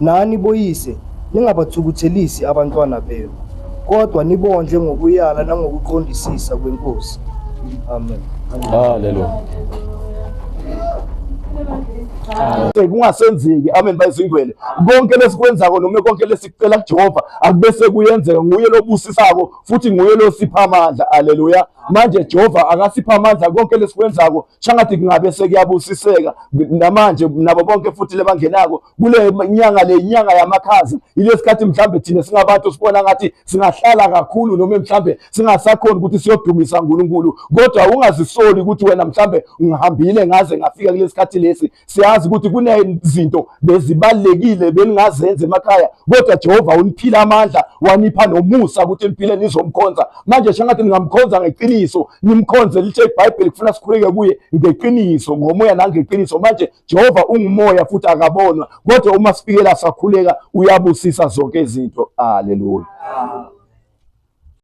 Nani boyise, ningabathukuthelisi abantwana benu, kodwa nibondle ngokuyala nangokuqondisisa kweNkosi. Amen. Haleluya. kungasenzeki amen bayizingwele konke lesikwenzako noma konke lesikucela kujehova akubese kuyenzeka nguye lobusisako futhi nguye losipha amandla aleluya manje jehova akasipha amandla konke lesikwenzako shangathi kungabe sekuyabusiseka namanje nabo bonke futhi lebangenako kule nyanga le nyanga yamakhaza ilesikhathi mhlambe thina singabantu sibona ngathi singahlala kakhulu noma mhlambe singasakhona ukuthi siyodumisa uNkulunkulu kodwa ungazisoli ukuthi wena mhlambe ngihambile ngaze ngafika kulesikhathi lesi siyazi ukuthi kunezinto bezibalekile beningazenza emakhaya kodwa Jehova uniphile amandla wanipha nomusa ukuthi niphile nizomkhonza manje shangathi ningamkhonza ngeqiniso nimkhonze lithe iBhayibheli kufuna sikhuleke kuye ngeqiniso ngomoya nangeqiniso manje Jehova ungumoya futhi akabonwa kodwa uma sifikela sakhuleka uyabusisa zonke izinto haleluya